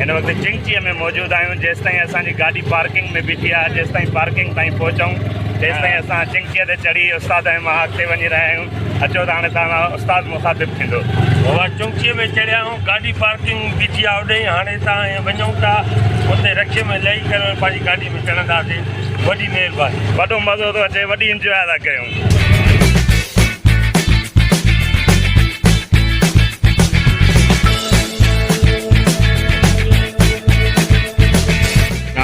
هن وقت چنگچيء ۾ موجود آهيون جيستائين اسان جي گاڏي پارڪنگ ۾ بيٺي آهي جيستائين پارڪنگ تائين پهچون تيستائين اسان چنگچيء تي چڙهي استاد ۽ مان اڳتي وڃي رهيا آهيون اچو ته هاڻي توهان سان استاد مخاطب ٿيندو. اسان چنگچيء ۾ چڙهيا آهيون گاڏي پارڪنگ ۾ بيٺي آهي اوڏي هاڻي اسان ائين وڃون ٿا اتي رڪشي ۾ لهي ڪري پنهنجي گاڏي ۾ چڙهنداسين وڏي مهرباني. وڏو مزو ٿو اچي وڏي انجواء ٿا ڪيون.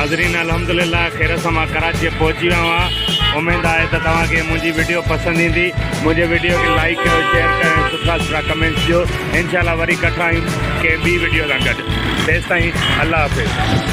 ناظرين الحمدلله خير سان مان ڪراچيء پهچي ويو آهيان اميد آهي ته توهان کي منهنجي وڊيو پسند ايندي منهنجي وڊيو کي لائيڪ ڪيو شيئر ڪيو ۽ سٺا سٺا ڪمينٽس ڏيو انشاء الله وري ڪٺا آهيون ڪنهن ٻي وڊيو سان گڏ تيستائين الله حافظ